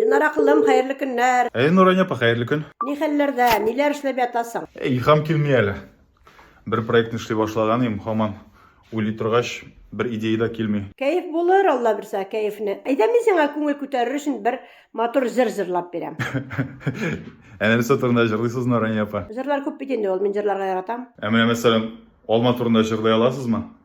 Динара кылым, хәерле көннәр! Әй, Нурания апа, хәерле көн! Ни хәлләрдә, ниләр эшләп ятасың? Әй, илһам килми әле. Бер проектны эшли башлаган идем, һаман уйлый торгач, бер идея дә килми. Кәеф булыр, Алла бирсә, кәефне. Әйдә, мин сиңа күңел күтәрер өчен бер матур җыр җырлап бирәм. Әнә нәрсә турында җырлыйсыз, Нурания апа? Җырлар күп бит инде ул, мин җырларга яратам. Ә менә мәсәлән, алма турында җырлый аласызмы?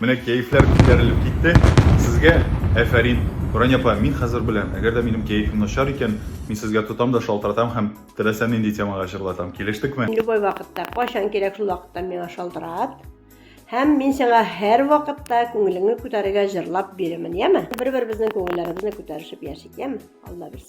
Менә кәефләр күтәрелеп китте. Сезгә әфәрин! Нурания апа, мин хәзер беләм, әгәр дә минем кәефем начар икән, мин сезгә тотам да шалтыратам һәм теләсә нинди темага җырлатам. Килештекме? Любой вакытта, кайчан кирәк шул вакытта миңа шалтырат. Һәм мин сиңа һәрвакытта күңелеңне күтәрергә җырлап бирермен, яме? Бер-беребезнең күңелләребезне күтәрешеп яшик, яме? Алла бирсә.